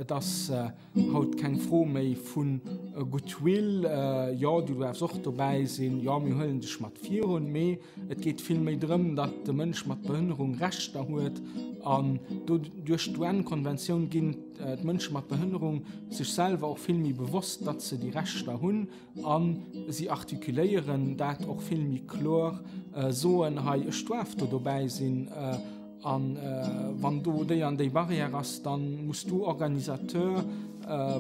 Et ass äh, haut keng Fro méi vun äh, Goodwill äh, ja du wars och dobäi sinn ja mir hëllen dech mat vir hun méi. Et geet vill méi drëm, datt de Mënsch mat Behënnerung rechtter huet an duerch d'UN-Konventioun ginn D'Mënsche mat Behënnerung sech selwer och vill méi bewosst, datt se déi Rechter hunn a si artikuléieren dat och vill méi kloer, soen, hei ech duarf do dobäi sinn a wann do déi an déi Barrière ass, da muss du Organisateur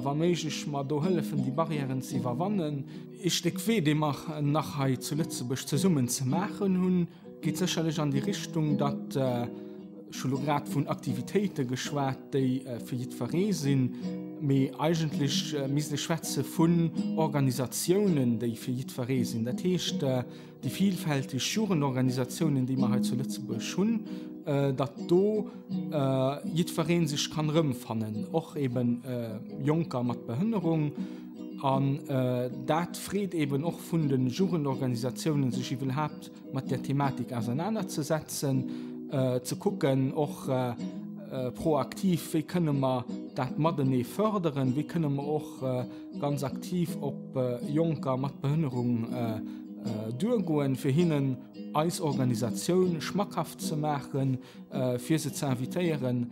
wa méiglech mer do hëllefen déi Barrièren ze iwwerwannen. Ee Stéck Wee dee mer nach hei zu Lëtzebuerg zesummen ze maachen hunn. Geet sécherlech an déi Richtung, datt ech hu lo grad vun Aktivitéite geschwat, déi fir jiddweree sinn, mee eigentlech misst ee schwätze vun Organisatiounen, déi fir jiddweree sinn. Dat heescht, déi vilfälteg Jugendorganisatiounen, déi mer hei zu Lëtzebuerg hunn, datt do jiddweree sech kann erëmfannen, och eeben Jonker mat Behënnerung. An dat freet eeben och vun de Jugendorganisatiounen, sech iwwelhaapt mat der Thematik auseinander ze setzen, äh, ze kucken och äh, äh, proaktiv, wéi kënne mer dat Madenee förderen, wéi kënne mer och äh, ganz aktiv op äh, Jonker mat Behënnerung äh, äh, duergoen, fir hinnen eis Organisatioun schmackhaft ze maachen, äh, fir se ze invitéieren,